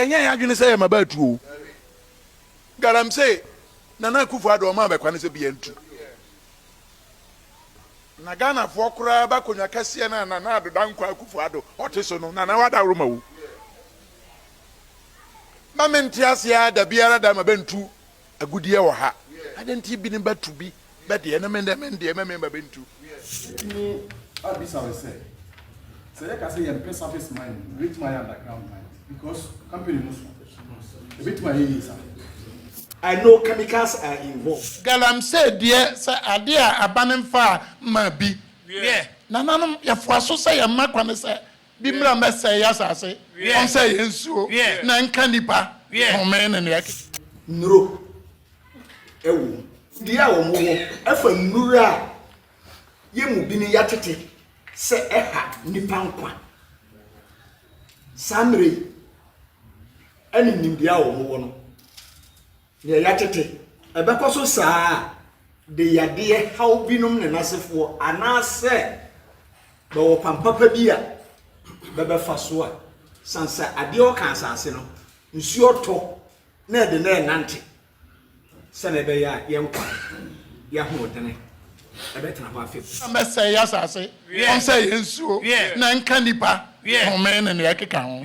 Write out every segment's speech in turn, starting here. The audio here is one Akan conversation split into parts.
Ɛnyɛ yɛn adwene sɛ yɛ mmabaa tu oo. Galamsey, Nana Akuffo Addo ɔmaa bɛ kwane sɛ bia ntu. Na Ghanafoɔ koraa ba akonwa kɛseɛ no a Nana Addo Dankwa Akuffo Addo ɔte so no, Nana w'adaworo ma oo. Ba mente aseɛ aa dabiara da ma bɛ ntu Agudeɛ wɔ ha adɛn nti ebi ne bɛ tu bi bɛ deɛ na me ndɛ me ndeɛ mɛ me mma bɛ ntu. Wobɛtumi abisa me sɛ, sɛ yɛka sɛ yɛmpɛ surface mining a, yɛbɛtumi ayɛ underground mining because company no so ɛbɛtumi ayɛ yie saa? I know chemicals are involved. Galamsey deɛ sɛ adeɛ a aba no mfaa mmaa bi. Wiɛ. Nananom, yɛfoa so sɛ yɛmma kwane sɛ Bi mmra mmɛsɛe asase. Ɔnsɛe yɛn nsuo na ɛnka nnipa home ne nea ɛkeka. Nnuro wɔ mu. Dua a wɔwɔ fa nnuro a yɛn mu binom yɛatete sɛ ɛha nnipa nkwa. Saa mmerɛ yi ne nimdeɛ a wɔwɔ no. Deɛ yɛatete, ɛbɛkɔ so saa ara de yadeɛ haw binom ne n'asefoɔ anaasɛ bɛwɔ kwan papa bi a bɛbɛfa so a, sane sɛ adeɛ ɔka asase no, nsuo tɔ na ɛde na ɛnante sɛdeɛ ɛbɛyɛ a yɛn nkwa yɛ ahoɔdene ɛbɛtena hɔ afebɔɔ. Na mɛsɛe asase, wɔnsɛe yɛn nsuo, na ɛnka nnipa home ne nea ɛkeka ho.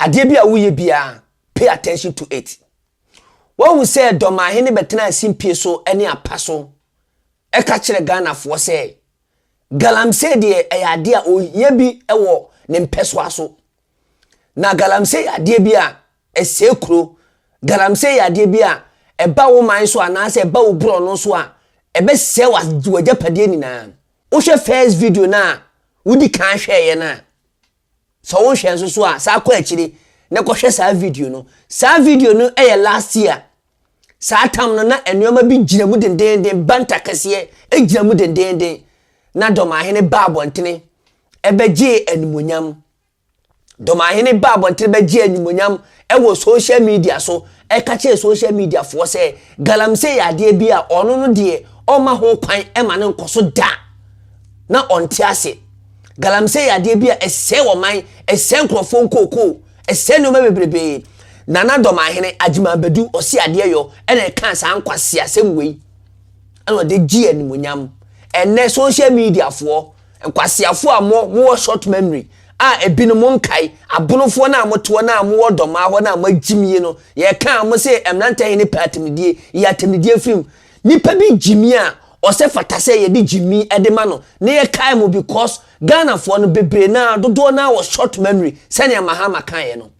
Adeɛ bi a woyɛ biara, pay attention to it. Woahu sɛ Dɔmahene bɛtenaa asimpie so ne apa so ka kyerɛ Ghanafoɔ sɛ Galamsey deɛ ɛyɛ adeɛ a ɔyɛ bi wɔ ne mpɛsoa so. Na Galamsey yɛ adeɛ bi a ɛsɛe kuro. Galamsey yɛ adeɛ bi a ɛba wo man so anaasɛ ɛba wo borɔno so a, ɛbɛsɛe w'agyapadeɛ nyinaa. Wohwɛ first video no a wodi kan hwɛeɛ no a, Sɛ wo nhwɛ nso so a, saa kɔ akyire na kɔhwɛ saa video no. Saa video no yɛ last year. Saa tam no na nnoɔma bi gyina mu dendeenden, banta kɛseɛ gyina mu dendeenden, na Dɔmahene baa abɔntene ɛbɛgyee animuonyam. Dɔmahene baa abɔntene bɛgyee animuonyam wɔ social media so ka kyerɛɛ social media foɔ sɛ galamsey yɛ adeɛ bi a ɔno no deɛ ɔmma ho kwan ma no nkɔ so da na ɔnte ase. Galamsey yɛ adeɛ bi a ɛsɛe ɔman, ɛsɛe nkurɔfoɔ nkookoo, ɛsɛe nneɛma bebrebee. Nana Dɔmanhene Agyeman Badu Ɔseadeɛyɔ na ɛkaa saa nkwaseasɛm wei na ɔde gyee animuonyam. Ɛnnɛ social media foɔ Nkwaseafoɔ a mo mo wɔ short memory a ebi no mo nkae abonofoɔ no a mo te hɔ no a mo wɔ dɔmaa hɔ no a mo agyim yi no yɛ ka a mo se mmranteɛ he ne pɛ atemidie yi atemidie firi mu nipa bi gyimi a ɔsɛ fata sɛ yɛde gyimi de ma no na yɛ kae mo because Ghanafoɔ no bebree no a dodoɔ no a wɔ short memory sɛnea Mahama kaeɛ no.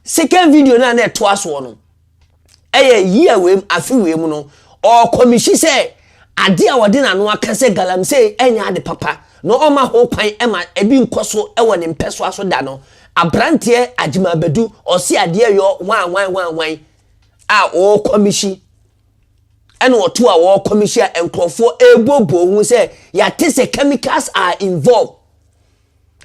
Second video no a na ɛtoa soɔ no ɛyɛ year wei mu afe wei mu no ɔkɔmihyi sɛ ade a ɔde n'ano aka sɛ galamsey ɛnyɛ ade papa na ɔma ho kwan ɛma ebi nkɔ so ɛwɔ ne mpɛsoa so da no abranteɛ Agyimabadu ɔse adeɛ yɔ hwanhwan hwanhwan a ɔkɔmihyi ɛna ɔto a ɔkɔmihyi a nkurɔfoɔ ɛboboo ho sɛ yɛate sɛ chemicals are involved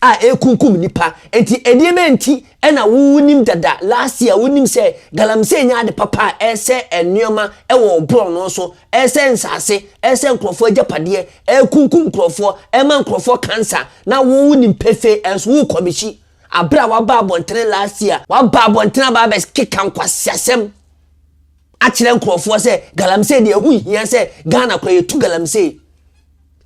a ɛrekunkum nnipa nti nneɛma nti na wonim dada last year wonim sɛ galamsey nyɛ ade papa a ɛresɛ nneɛma wɔ borɔno so ɛresɛ nsase ɛresɛ nkurɔfoɔ agyapadeɛ ɛrekunkum nkurɔfoɔ ɛma nkurɔfoɔ cancer na wo wonim pefee ɛnso wokɔ bɛhyi abere a waba abɔntene last year waba abɔntene aba abɛkeka nkwaseasɛm akyerɛ nkurɔfoɔ sɛ galamsey deɛ ɛho hia sɛ Ghana kora yɛtu galamsey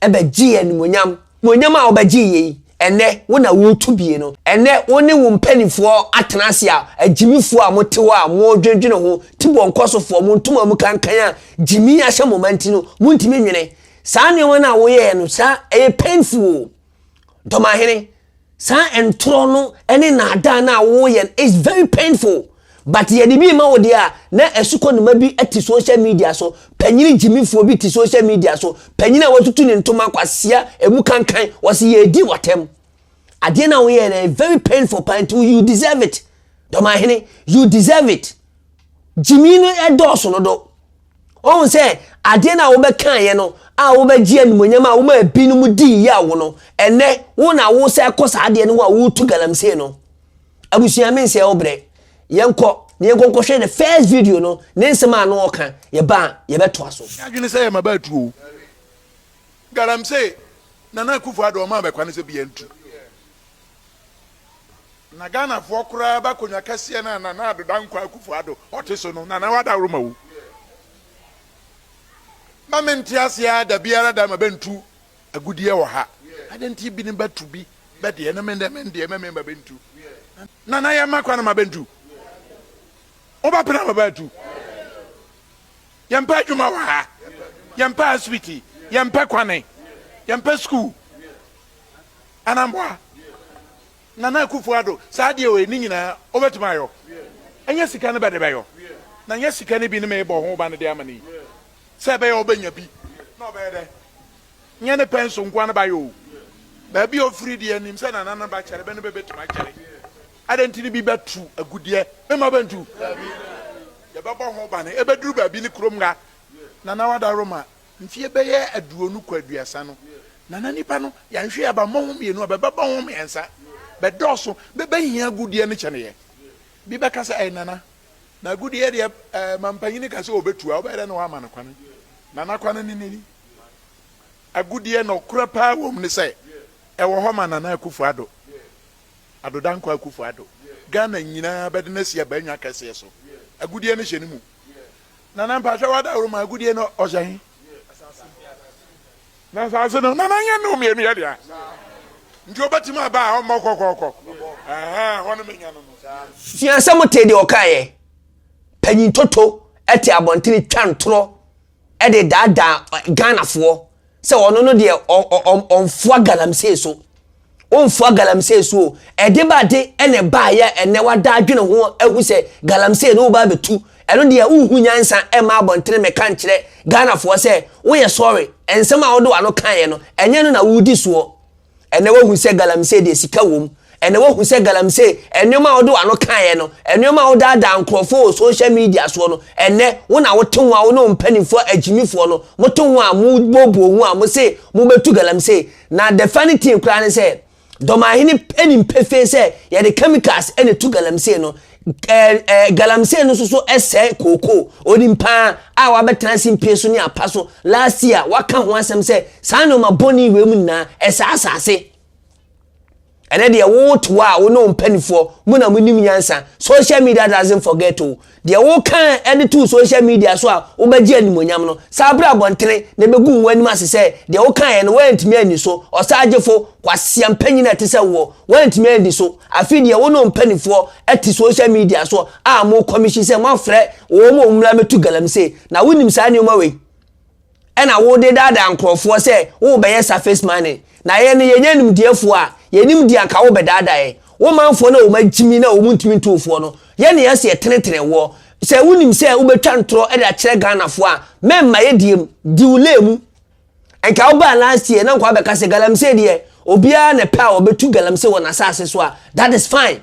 bɛgyee animuonyam. Muonyam a wobɛgye yɛ yi, ɛnnɛ wo na woretu bie no. Ɛnnɛ wo ne wo mpanimfoɔ atena ase a, agyimifoɔ a mote hɔ a moredwendwene ho, tibɔ nkɔsofoɔ, mo ntoma mu kankan a gyimi ahyɛ mo ma nti no, montumi nwene. Saa nneɛma no a woyɛeɛ no, saa ɛyɛ painful o. Dɔmahene, saa ntorɔ no ne naadaa no a woyɛ no is very painful but yɛde bi ma wo deɛ a na asukɔnoma bi te social media so panyini gyimifoɔ bi te social media so panyini a watutu ne ntoma kwasia emu kankan wɔsi yɛredi wɔtɛm adeɛ no a woyɛ no is very painful paa nti you deserve it dɔmahene you deserve it gyimi no ɛdɔɔso no do Wohu sɛ adeɛ no a wobɛkaeɛ no a wobɛgye animonyam a woma ebinom dii yɛ wo no, ɛnɛ wo na wosan kɔ saa adeɛ no ho a woretu galamsey no. Abusua me nsɛ wo brɛ. Yɛnkɔ na yɛnkɔ nkɔhwɛ the first video no ne nsɛm a ano ɔka yɛba a yɛbɛtoa so. Yɛ adwene sɛ yɛma bɛatu o. Galamsey, Nana Akufo-Addo ɔmaa bɛ kwane sɛ biaa ntu. Na Ghanafoɔ koraa ba akonwa kɛseɛ no a Nana Addo Dankwa Akufo Addo ɔte so no, Nana wadaworo ma wo. Ma me nte aseɛ ara da biara da ma bɛntu agudeɛ wɔ ha. Adɛn nti binom bɛto bi bɛ deɛ na me me deɛ ma me ma bɛntu. Nana yɛ ma kwan ma bɛntu. Wo ba pena ma bɛatu. Yɛ mpɛ adwuma wɔ ha. Yɛ mpɛ asibiti. Yɛ mpɛ kwane. Yɛ mpɛ sukuu. anamboa nana akufo ado saa deɛ ɔyɛ ne nyinaa ɔbɛtumi ayɔ ɛnyɛ sika no bɛde bɛyɔ na nyɛ sika no bi ne meebɔ ho ba no de ama ne yi sɛ ɛbɛyɛ ɔbɛnya bi na ɔbɛyɛ dɛ nyɛ ne pɛn so nkoa no ba yɔ o baabi a ɔfiri deɛ nim sɛ nana no ba kyɛre bɛ no bɛbɛtumi akyɛre adɛn nti ne bi bɛtu agudeɛ mema bɛntu yɛbɛbɔ ho ba no ɛbɛduru baabi ne kurom nga nana wada roma Mfie bɛyɛ aduonu kɔ aduasa no, na na nnipa no, yɛanhwɛ a, bɛmmɔ ho mmienu a, bɛbɛbɔ ho mmiɛnsa. Bɛdɔɔso. Bɛbɛhia agudeɛ no kyɛneeɛ. Bi bɛka sɛ, Ɛɛ Nana, na agudeɛ deɛ, ɛɛ mampanin ka sɛ ɔbɛtu a, wobɛyɛ dɛn na woama no kwane? Nana, kwane no ni. Agudeɛ nokorɛ pa ara wɔ mu ne sɛ, ɛwɔ hɔ ma Nana Akufo-Addo, Addo Dankwa Akufo-Addo. Ghana nyinaa bɛde no asi abannwa kɛseɛ so. Agudeɛ no hyɛ ne mu. Nana mpakyɛw wadaworo mu agodie no ɔhyɛ he? Na asaase no nana nyɛ no mmienu yɛ dea nti ɔbɛtumi aba a ɔmmɔ kɔkɔɔkɔ ɛhɛ hɔ no menya no no. Sua sɛ motee deɛ ɔkaeɛ, Panyin Toto te abɔntene twa ntorɔ. de daadaa Ghanafoɔ sɛ ɔno no deɛ ɔmfoa galamsey so. Womfoa galamsey so o. Ɛde ba de na ɛbaeɛ a ɛnɛ wada adwene ho ahu sɛ galamsey no woba abɛtu. Ɛno deɛ wonhu nyansa mma abɔntene mmɛka nkyerɛ Ghanafoɔ sɛ woyɛ sɔre. Nsɛm a wode w'ano kaeɛ no, ɛnyɛ no na woredi soɔ. Ɛnnɛ woahu sɛ galamsey deɛ sika wom. Ɛnnɛ woahu sɛ galamsey, nneɛma a wode w'ano kaeɛ no, nneɛma a wodaadaa nkurɔfoɔ wɔ social media soɔ no, ɛnnɛ wo na wote ho a wo ne wo mpanimfoɔ agyimifoɔ no mote ho a mobooboo ho a mose mobɛtu galamsey. Na the funny thing koraa ne sɛ, Dɔmahene nim pefee sɛ yɛde chemicals na ɛtu galamsey no. Ɛɛ, ɛɛ, galamsey no nso so sɛe kookoo. Onim paa a wabɛtena ase mpie so ne apa so. Last year, waka ho asɛm sɛ saa nneɛma bɔne wei mu nyinaa, ɛsɛe asase. Ɛnɛ deɛ wote hɔ a, wo ne wo mpanimfoɔ, mo na monim nyansa. Social media doesn't forget o. Deɛ woka de to social media so a wobɛgye animuonyam no, saa berɛ abɔntene na ɛbɛgu wo anim ase sɛ deɛ wokaeɛ no woantumi anni so. Ɔsaagyefo, kwaseampanyin a ɛte sɛ woɔ, woantumi anni so. Afei deɛ wo ne wo mpanifoɔ te social media so a mo kɔmihyi sɛ moafrɛ wɔn a wɔmmra mmɛtu galamsey na wonim saa nneɛma wei ɛna wode daadaa nkorɔfoɔ sɛ worebɛyɛ surface money na yɛn no yɛnyɛ animdeɛfoɔ a yɛnim deɛ anka wobɛdaadaa yɛn wo manfoɔ no a wɔn agyimi na wɔn ntumi nto wofoɔ no yɛ ne yɛse yɛtenetene woɔ sɛ wonim sɛ wobɛtwa ntorɔ de akyerɛ Ghanafoɔ a mɛmma yɛdie mu di wo lay mu Nka wo baa last year na nka wabɛka sɛ galamsey deɛ obiara na ɛpɛ a wɔbɛtu galamsey wɔ n'asase so a that is fine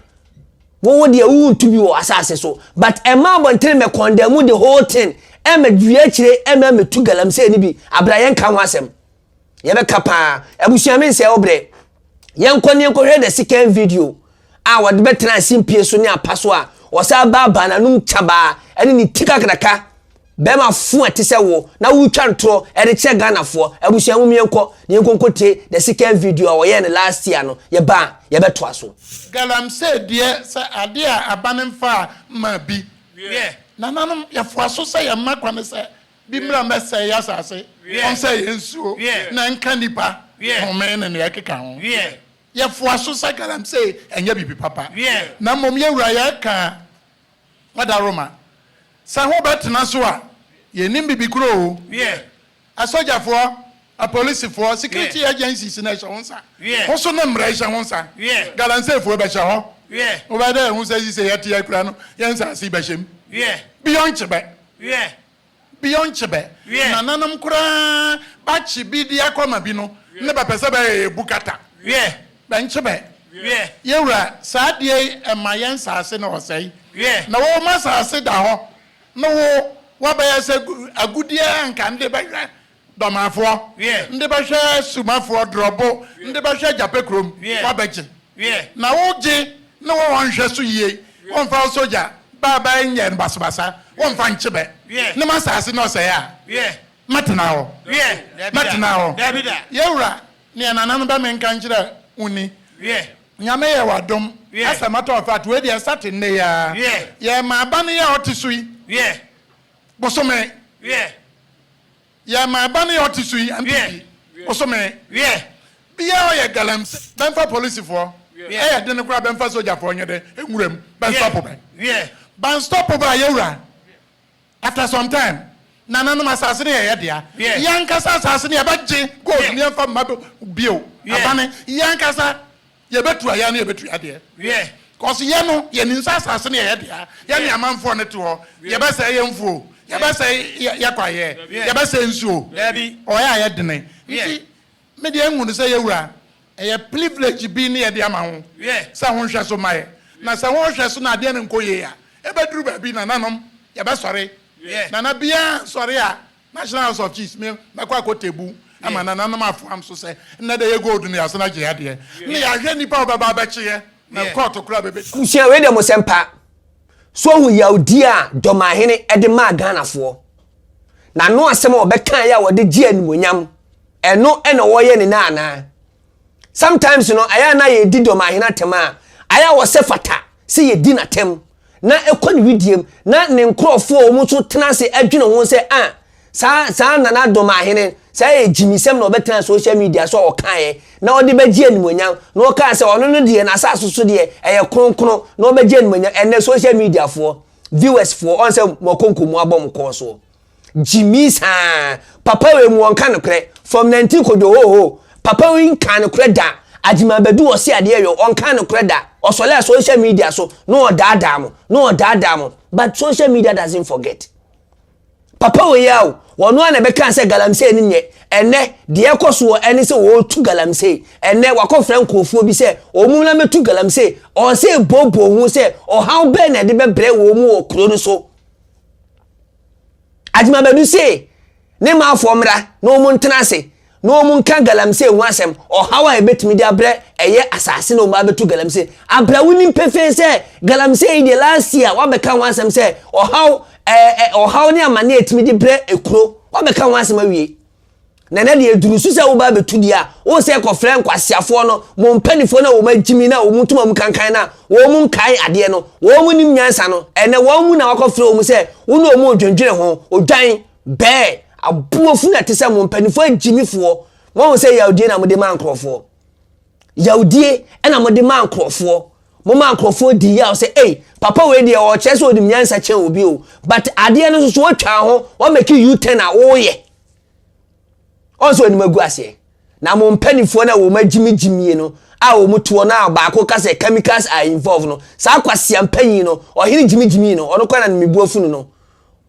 wo wo deɛ wo ntu bi wɔ asase so but ɛma abɔntene mɛ kɔndamu the whole thing ɛmɛ dua akyire ɛmɛ ɛmɛ tu galamsey no bi abira yɛn ka ho asɛm yɛbɛka paa abusua me nsɛɛ wo brɛ Yɛnkɔ na yɛnkɔhwɛ the second video a wɔde bɛtena ase mpie so ne apa so a ɔsan baabaa n'anom kyabaa ɛne ne ti kakraka bɛrima fo a ɛte sɛ wo na wotwa ntorɔ ɛde kyerɛ Ghanafoɔ abusua mu yɛnkɔ na yɛnkɔ nkɔtie the second video a wɔyɛɛ no last year no yɛba a yɛbɛtoa so. Galamsey deɛ sɛ adeɛ a abane mfaa mmaa bi. Nananom yɛfoa so sɛ yɛn mma kwane sɛ. Bi mmra mmɛsɛe asase, ɔnsɛe yɛn nsuo, na nka nnipa home ne nea ɛkeka ho. Yɛfoa so sɛ galamsey, ɛnyɛ biribi papa. Na mmom yɛn Wura, yɛka Adaworoma sɛ hobɛtena so a, yɛnnim biribi koro o. Asogyafoɔ, apolisifoɔ, security agencies no ɛhyɛ wo nsa. Wo so no mmara ɛhyɛ wo nsa. Galamseyfoɔ bɛhyɛ hɔ. Wobɛyɛ dɛ ɛho sɛ sisei yɛte akura no, yɛn nsase bɛhyɛ mu. Beyond Kyebɛ. Wiɛ. Bi ɔnkye bɛ. Wiɛ. Nananom koraa bɛakye bi de akɔ ama bi no ne bɛpɛ sɛ bɛyɛ yɛ bukata. Wiɛ. Bɛnkye bɛ. Wiɛ. Yɛ Wura, saa adeɛ yi ɛma yɛ nsaase no ɔsɛe. Wiɛ. Na wo ma saase da hɔ no wo wabɛyɛ sɛ agudeɛ a anka nde bɛhwɛ Dɔmafoɔ nde bɛhwɛ Sumafoɔ drɔbo nde bɛhwɛ Gyapɛ kurom wabɛgye na wogye ne wo hɔ nhwɛ so yie wonfa wo sogya baa baa nyɛ basabasa wonfa nkye bɛ ne ma saase ne ɔsɛɛ a mɛtena hɔ mɛtena hɔ yɛwura ne yɛ nana no bɛ menka nkyerɛ wo ni Nyame yɛ wadom asɛ mɛtɔ afat wei deɛ ɛsa te nnɛ yi aa yɛ ma aba no yɛ ɔte so yi bosome. Yɛ ma ɛba ne ɔte so yi ante fie bosome biaa ɔyɛ galamsey bɛmfa policefoɔ ɛyɛ dene koraa bɛmfa sogyafoɔ nyɛ dɛ nwuram bɛnstɔpo bɛ bɛnstɔpo bɛ ayɛwura after some time nananom asase no yɛ yɛ dea yɛnkasa asase no yɛbɛgye gold no yɛmfa mma bio abane yɛnkasa Yɛbɛtu ayɛ ne yɛbɛtu yadeɛ. Wiɛ. Cause yɛ no yɛ nim sɛ asase no yɛ yɛ dea yɛ ne amanfoɔ ne te hɔ yɛ bɛ sɛe yɛ mfuo yɛ bɛ sɛe yɛ kwa yɛ yɛ bɛ sɛe nsuo ɔyɛ ayɛ dene nti me deɛ nhu no sɛ yɛ wura ɛyɛ privilege bi ne yɛ de ama ho sɛ ho nhwɛ so ma yɛ na sɛ ho nhwɛ so na adeɛ no nkɔ yie a ɛbɛ duru baabi nananom yɛ bɛ sɔre nana biara nsɔre a National House of Chiefs me mɛkɔ akɔtɛbu ma nananom afoam so sɛ nnɛ dɛ yɛ gold no yɛasan agye adeɛ na yɛahwɛ nnipa a wɔbɛba abɛkye yɛ na kɔɔto koraa bɛbɛ Abusua, wei deɛ mosɛ mpa. So woahu yawdie a Dɔmahene de maa Ghanafoɔ? N'ano asɛm a ɔbɛkaeɛ a ɔde gyee animuonyam, ɛno na wɔreyɛ no nnɛ anaa? Sometimes no, ayɛ a na yɛdi Dɔmahene atɛm a, ayɛ a ɔsɛ fata sɛ yɛdi n'atɛm na ɛkɔ ne widiem na ne nkorɔfoɔ a wɔn nso tena ase adwene ho sɛ ah, saa saa Nana Dɔmahene, saa ɛyɛ gyimisɛm na ɔbɛtena social media so a ɔkaeɛ na ɔde bɛgye animuonyam na ɔkaa sɛ ɔno no deɛ n'asase so deɛ ɛyɛ kronkron na ɔbɛgye animuonyam, ɛnnɛ social media foɔ, viewers foɔ, ɔn sɛ moakonko moabɔ mo kɔɔ soɔ. Gyimii saa papa wei mu ɔnka nokorɛ from nantin kojo hoohoo papa wei nkaa nokorɛ da Agyeman badu ɔse adeɛ yɔ ɔnkaa nokorɛ da ɔsɔlɛɛ social media so na ɔdaadaa mo na ɔdaadaa mo but social media doesn't forget papa wei ao ɔno ara na ɛbɛkaa sɛ galamsey no nyɛ ɛnɛ deɛ ɛkɔsoɔ ɛne sɛ ɔɔtu galamsey ɛnɛ wakɔfrɛ nkorɔfoɔ bi sɛ ɔmu na mɛtu galamsey ɔɔsɛ booboo ho sɛ ɔhaw bɛɛ na ɛde bɛbrɛ wɔ mu wɔ kuro no so Agyemabadu se ne manfoɔ mmra na wɔn ntena ase na wɔn nka galamsey ho asɛm, ɔhaw a ɛbɛtumi de abrɛ ɛyɛ asase na wɔn abɛto galamsey abra. Wonim pefee sɛ galamsey yi deɛ last year wabɛka ho asɛm sɛ ɔhaw ɛɛ ɔhaw ne amane a ɛtumi de brɛ ekuro, wabɛka ho asɛm awie. Na na deɛ ɛduru so sɛ woba bɛtu deɛ a wo sɛ kɔfrɛ nkwaseafoɔ no mo mpanimfoɔ no a wɔn agyimi no a wɔn ntoma mu kankan no a wɔn nkae adeɛ no wɔn nim nyansa no ɛnɛ wɔn mu na wakɔfrɛ wɔn sɛ wo ne wɔn redwendwene ho odwan bɛɛ aboɔ funu ɛte sɛ mo mpanimfoɔ agyimifoɔ wɔn sɛ yawdie na mode ma nkurɔfoɔ Yawdie ɛna mode maa nkorɔfoɔ. Mo maa nkorɔfoɔ di yaw sɛ ei papa wei deɛ ɔkyerɛ sɛ ɔnim nyansa kyɛn obi o but adeɛ no soso wɔtwaa ho wɔmɛki u ten a woyɛ. Ɔn sɛ ɔnim agu aseɛ. Na mo mpanifoɔ no a wɔn agyimi gyimie no a wɔn toɔ no a baako ka sɛ chemicals are involved no saa kwasia mpanyin no ɔhene gyimi gyimii no ɔno kora na ne mebu afunu no.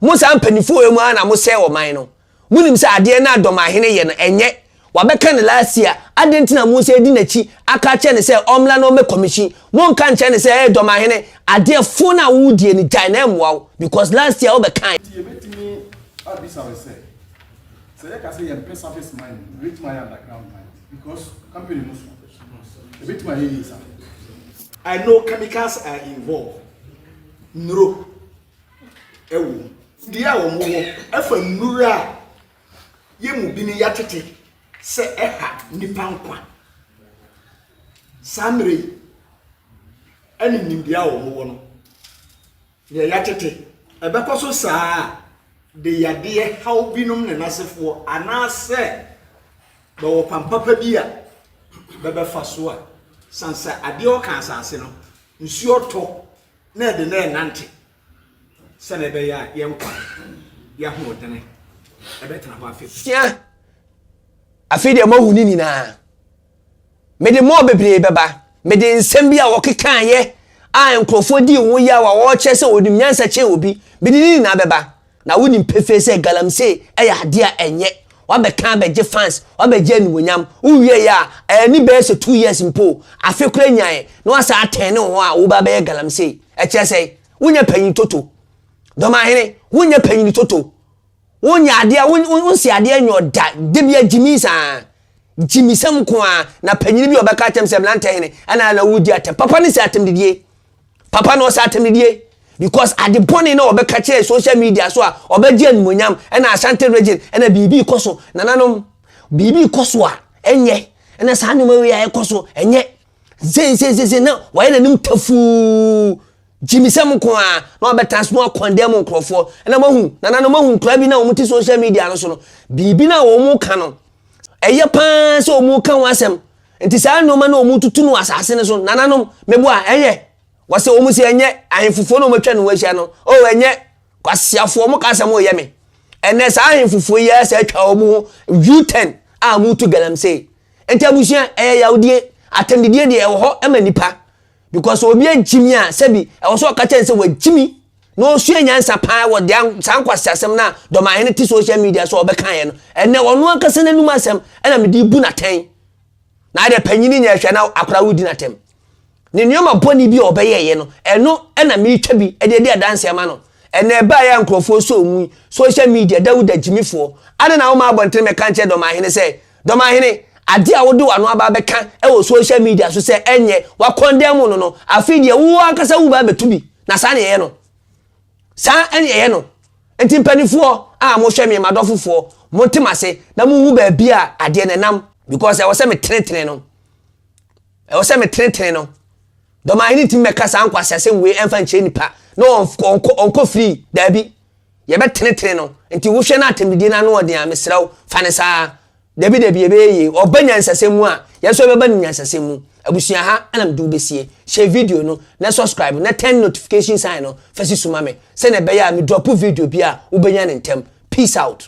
Mo saa mpanifoɔ wei mu ara na mo sɛe ɔman no. Wonim sɛ adeɛ no a Dɔmahene yɛ no ɛnyɛ, wabɛka no last year, adɛn nti na monsan adi n'akyi aka akyerɛ no sɛ ɔmmra na ɔmmɛ commission? Monka nkyerɛ no sɛ hey Dɔmahene, adeɛ fo no a wodie no gyae na ɛmmoa wo because last year wobɛkaeɛ. Nti yɛbɛtumi abisa wo sɛ, sɛ yɛka sɛ yɛmpɛ surface mining, yɛbɛtumi ayɛ underground mining because company no so ɛbɛtumi ayɛ yie saa? I know chemicals are involved, nnuro. ɛwɔ mu. Deɛ a wɔn wɔ ɛfa nnuru a yɛn mu bi ne yɛatete sɛ ɛha nipa nkwa. Saa mmerɛ yi ɛne nimdeɛ a wɔn wɔ no deɛ yɛatete ɛbɛkɔ so saa a de yadeɛ haw binom ne n'asefoɔ anaasɛ bɛwɔ kwan papa bi a bɛbɛfa so a san sɛ adeɛ ɔka asase no nsuo tɔ na ɛde no renante sɛdeɛ ɛbɛyɛ a yɛn nkwa yɛ ahoɔdene ɛbɛtena hɔ afei sia afei deɛ moahu ne nyinaa mede mɔɔ bebree bɛba mede nsɛm bi a wɔkekaeɛ a nkurɔfoɔ dii ho yaw a wɔkyerɛ sɛ wɔnim nyansa kyɛn obi mede ne nyinaa bɛba Na wonim pefee sɛ galamsey yɛ ade a ɛnyɛ. Wabɛka abɛgye fans, wabɛgye animuonyam. Wowieeɛ a, anni bɛyɛ sɛ two years mpo o, afe koraa nyaeɛ, na woasan atɛn ne ho a woreba abɛyɛ galamsey. Ɛkyerɛ sɛn? Wonyɛ panyin toto. Dɔmahene, wonyɛ panyin toto. Wonyɛ adeɛ, wo, wo, wonsi adeɛ nyɔ da. Da biara gyimii saa. Gyimi sɛm nko ara. Na panyin bi a ɔbɛka akyerɛ me sɛ, Mmeranteɛhene, ɛnna na woredi atɛm. Papa no nsi atɛmdidie. Papa na ɔsɛ atamidie because ade bɔne na ɔbɛka kyerɛ social media so a ɔbɛgye animonyam ɛna Ashanti region ɛna biribi kɔ so nananom biribi kɔ so a ɛnyɛ ɛna saa nneɛma wei a ɛkɔ so ɛnyɛ zensensese na wɔayɛ n'anim tafuu gyimisɛm nko a na ɔbɛtena so na ɔkɔndɛm mu nkurɔfoɔ ɛna mahu nananom mahu nkura bi na wɔn ti social media no so no biribi na wɔn ka no ɛyɛ paa sɛ wɔn ka ho asɛm Enti saa nnoɔma no a wɔtutu no wɔ asase no so, nananom, mɛbu a, ɛyɛ? Wɔse, wɔn se, Ɛnyɛ, ahemfofoɔ no a wɔatwa ne ho ahyia no, oh, ɛnyɛ, kwasiafoɔ, wɔn ka sɛ moreyɛ me. Ɛnnɛ, saa ahemfofoɔ yi ara saa atwa wɔn ho U-turn a moretu galamsey. Enti abusua, ɛyɛ yawdie, atɛmdidie deɛ ɛwɔ hɔ ma nnipa. because obi agyi mi a sɛbi ɛwɔ sɛ ɔka kyɛn sɛ wagyi mi na ɔsua nyansa paa wɔ deɛ saa nkwasi asɛm no a dɔmahene te social media so ɔbɛkaeɛ no ɛnɛ ɔno ankasa n'anum asɛm ɛna mede bu n'atɛn na adeɛ panyini nyɛ hwɛ na akora wodi n'atɛm ne nneɛma bɔne bi a ɔbɛyɛeɛ no ɛno ɛna metwa bi ɛde adi adanseɛ ma no ɛnɛ ɛbaeɛ a nkurɔfoɔ sɛ ɔmu social media dawuda gyimifoɔ ade na woma abɔntene mɛka nkyɛ dɔmahene sɛ Dɔmahene, ade a wode w'ano aba abɛka wɔ social media so sɛ ɛnyɛ w'akɔndɛɛmu no no, afei deɛ wo ankasa wo ba abɛtu bi. Na saa na yɛyɛ no. Saa na yɛyɛ no. Nti mpanifoɔ a mohwɛ me, m'adɔfofoɔ, monte m'ase na monhu baabi a adeɛ no ɛnam. Because ɛwɔ sɛ metenetene no. Ɛwɔ sɛ metenetene no. Dɔmahene ntumi mmɛka saa nkwaseasɛm wei ɛmfa nkyerɛ nipa na ɔnkɔ free. Daabi. yɛbɛtenetene no. Nti wohwɛ na atɛmdidie no ano ɔden a, mesrɛ wo, fa no saa. Dabi dabi, ɛbɛyɛ yie. Ɔba nyansasɛm mu a, yɛn nso yɛbɛba no nyansasɛm mu. Abusua ha na mede wo bɛsie. Hyɛ video no, na subscribe, na turn notification sign no fa si so ma me, sɛdeɛ ɛbɛyɛ a medrɔpo video bi a, wobɛnya no ntɛm. Peace out.